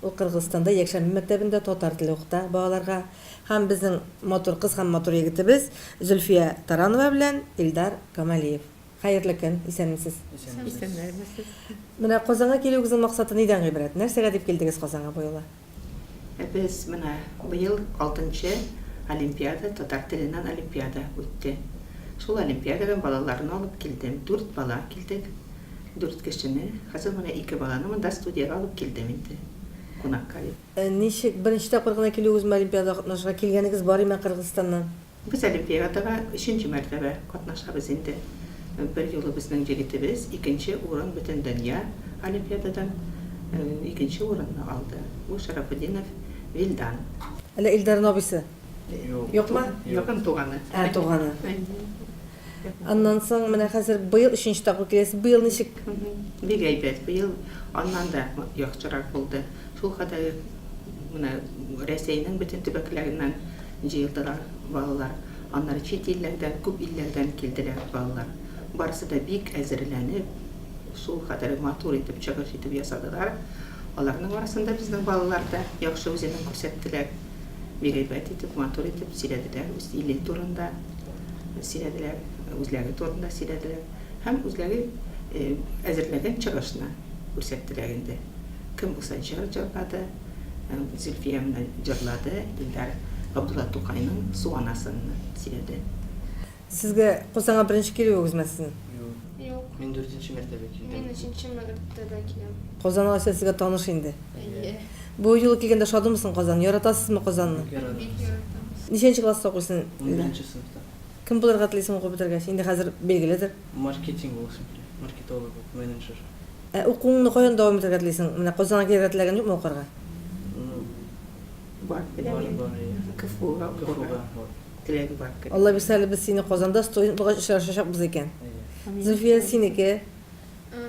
Ул Кыргызстанда якшәмбе мәктәбендә татар теле укыта балаларга һәм безнең матур кыз һәм матур егетебез Зөлфия Таранова белән Илдар Камалиев. Хәерле көн, исәнмесез. Исәнмесез. Менә Казанга килүегезнең максаты нидән гыйбрәт? Нәрсәгә дип килдегез Казанга бу юлы? Без менә быел алтынчы олимпиада, татар теленнән олимпиада үтте. Шул олимпиададан балаларны алып килдем. Дүрт бала килдек. Дүрт кешене, хәзер менә ике баланы монда студиягә алып килдем инде кунакка дип. Ничек, беренче тапкыр гына килүегезме олимпиадага катнашырга, килгәнегез бар име Кыргызстаннан? Без олимпиадага өченче мәртәбә катнашабыз инде. Бер юлы безнең егетебез икенче урын Бөтендөнья олимпиададан икенче урынны алды. Бу Шәрәфетдинов Вилдан. Әллә Илдарның абыйсы? Юкмы? Якын туганы. Ә, туганы. Аннан соң менә хәзер быел өченче тапкыр киләсез. Быел ничек? Бик әйбәт. Быел аннан да яхшырак булды. Шул кадәр менә Рәсәйнең бөтен төбәкләреннән җыелдылар балалар. Аннары чит илләрдән, күп илләрдән килделәр балалар. Барысы да бик әзерләнеп, шул кадәр матур итеп чыгыш итеп ясадылар. Аларның арасында безнең балалар да яхшы үзенең күрсәттеләр. Бик әйбәт итеп, матур итеп сөйләделәр үз иле турында. Сөйләделәр, үзләре турында сөйләделәр һәм үзләре әзерләгән чыгышны күрсәттеләр инде. Кем булса җыр җырлады, Зөлфия менә җырлады, Илдар Габдулла Тукайның Су анасын сөйләде. Сезгә Кузанга беренче килүегез ме сезнең? Юк. Юк. Мин дүртенче мәртәбә килдем. Мин өченче мәртәбә киләм. Кузан алайса сезгә таныш инде. Әйе. Бу юлы килгәндә шадымы соң Казан? Яратасызмы Казанны? Бик яратабыз. Бик яратабыз. Ничәнче класста укыйсың? Унберенче сыйныфта. Кем булырга телисең укып бетергәч? Инде хәзер билгеледер. Маркетинг буласым килә. Маркетолог булып, менеджер. Ә укуыңны каян дәвам итергә телисең? Менә Казанга килергә теләгән юкмы укырга? Ну, Бар теләге. Бар, бар, иә. КФУга укырга. КФУга, вот. Теләге бар кебек. Аллабирса әле без сине Казанда студент булгач очрашачакбыз икән. Әйе. Зөлфия, синеке?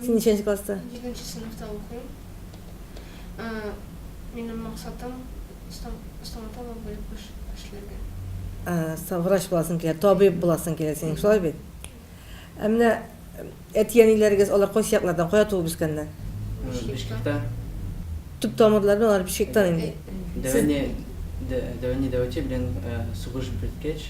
Син ничәнче класста? Җиденче сыйныфта укыйм. Минем максатым стоматолог булып эшләргә. Врач буласың килә, табиб буласың килә синең, шулай бит? Ә менә әти-әниләрегез алар кайсы яклардан, кая туып үскәннәр? Бишкектә. Төп тамырларны алар Бишкектан инде. Дәвани Дәвачи белән сугыш беткәч,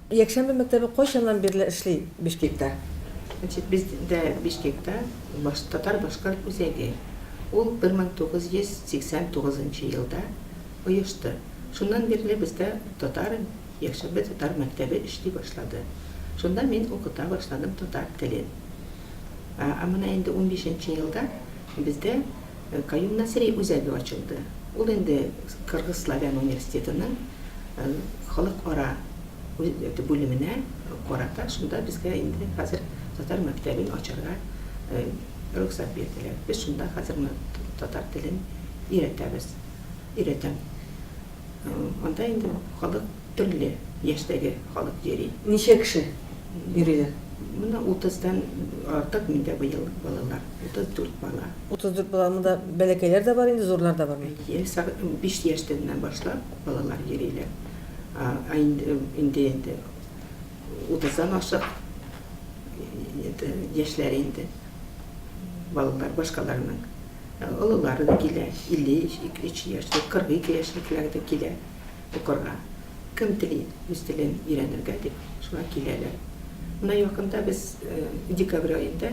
Якшәмбе мәктәбе кайчаннан бирле эшли Бишкектә? Значит, бездә Бишкектә татар-башкорт үзәге. Ул 1989 нчы елда оешты. Шуннан бирле бездә татар Якшәмбе татар мәктәбе эшли башлады. Шунда мин укыта башладым татар телен. Ә менә инде унбишенче елда бездә Каюм Насыйри үзәге ачылды. Ул инде Кыргыз славян университетының халыкара бүлеменә карата, шунда безгә инде хәзер татар мәктәбен ачарга рөхсәт бирделәр. Без шунда хәзер татар телен өйрәтәбез, өйрәтәм. Анда инде халык. Төрле яшьтәге халык йөри. Ничә кеше йөриләр? Менә утыздан артык миндә быел балалар, 34 бала. 34 бала, монда бәләкәйләр дә бар инде, зурлар да бармы? Әйе, биш яшьтән генә башлап балалар йөриләр. Инде инде утыздан ашык яшьләре инде балалар башкаларның олылары да килә, 53 яшьлек, 42 яшьлекләр дә килә. Укырга. Кем тели үз телен өйрәнергә дип, шуңа киләләр. Менә якында без декабрь аенда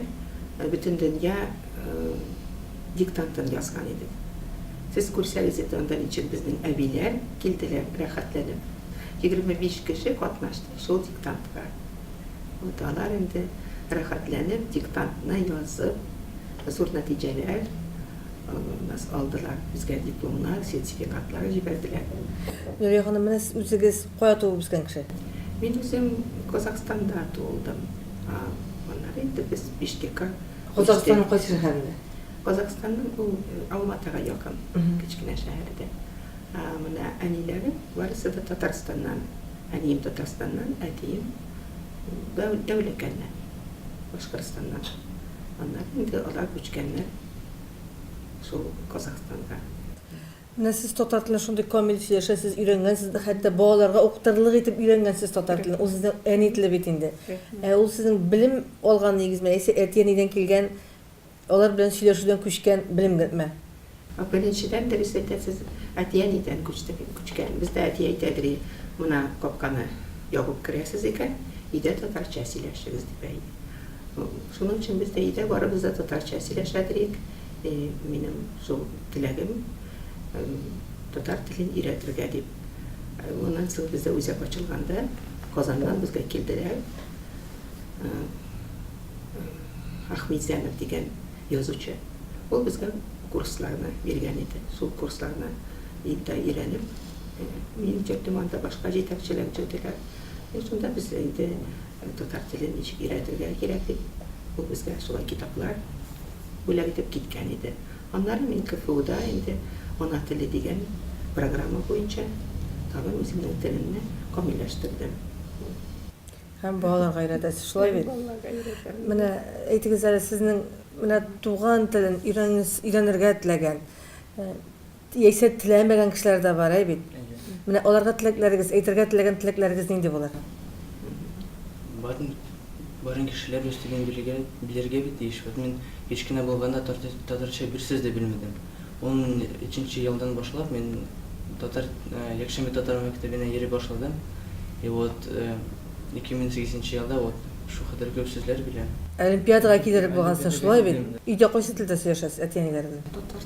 бөтендөнья диктантын язган идек. Сез күрсәгез иде анда ничек безнең әбиләр килделәр рәхәтләнеп. Егерме биш кеше катнашты шул диктантка. Вот алар инде рәхәтләнеп диктантны язып, зур нәтиҗәләр Нас алдылар, безгә дипломнар, сертификатлар җибәрделәр. Нурия ханым, менә сез үзегез кая туып үскән кеше? Мин үзем Казахстанда туылдым. Аннары инде без Биштекка күчтек. Казахстанның кайсы шәһәрендә? Казахстанның ул Алматага якын кечкенә шәһәрдә. Менә әниләрем барысы да Татарстаннан. Әнием Татарстаннан, әтием Дәүләкәннән, Башкортстаннан. Аннары инде алар күчкәннәр. шул Казахстанда. Менә сез татар телен шундый камил сөйләшәсез, өйрәнгәнсез, хәтта балаларга укытырлык итеп өйрәнгәнсез татар телен. Ул сезнең әни теле бит инде. Ә ул сезнең белем алган нигезме, яисә әти-әнидән килгән, алар белән сөйләшүдән күчкән белемме? Беренчедән, дөрес әйтәсез, әти-әнидән күчте, күчкән. Бездә әти әйтәдер, Менә капканы ябып керәсез икән, өйдә татарча сөйләшегез, дип әйтә. Шуның өчен без дә өйдә барыбыз да татарча сөйләшә диик. Минем шул теләгем татар телен өйрәтергә дип. Моннан соң бездә үзәк ачылганда, Казаннан безгә килделәр. Ахмедзянов дигән язучы. Ул безгә курсларны биргән иде. Шул курсларны инде өйрәнеп, мине төртеп анда башка җитәкчеләр төрделәр. Шунда без инде Татар телен ничек өйрәтергә кирәк дип, ул безгә шулай китаплар бүләк итеп киткән иде. Аннары мин КФУда инде Ана теле дигән программа буенча тагын үземнең телемне камилләштердем. Ул. Һәм балаларга өйрәтәсез, шулай бит? Һәм балаларга өйрәтәм. Менә әйтегез әле, сезнең менә туган телен өйрәнергә теләгән Яисә теләмәгән кешеләр дә бар, әй бит? Менә аларга теләкләрегез, әйтергә теләгән теләкләрегез нинди булыр? Барын, барын кешеләр үз телен белергә, белергә бит тиеш. Вот мин кич кенә булганда тартыр, татарча бер сүз дә белмәдем. Ун өченче елдан башлап мин татар, якшәмбе татар мәктәбенә йөри башладым. И вот, ике мең сигезенче елда вот шул кадәр күп сүзләр беләм. Олимпиадага килерлек булгансың, шулай бит? Өйдә кайсы телдә сөйләшәсез әти-әниләр белән?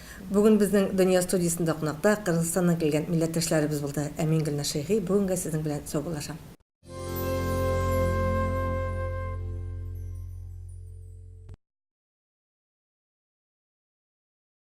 Бүген безнең Дөнья студиясендә кунакта Кыргызстаннан килгән милләттәшләребез булды. Ә мин Гөлназ Шәйхи бүгенгә сезнең белән саубуллашам.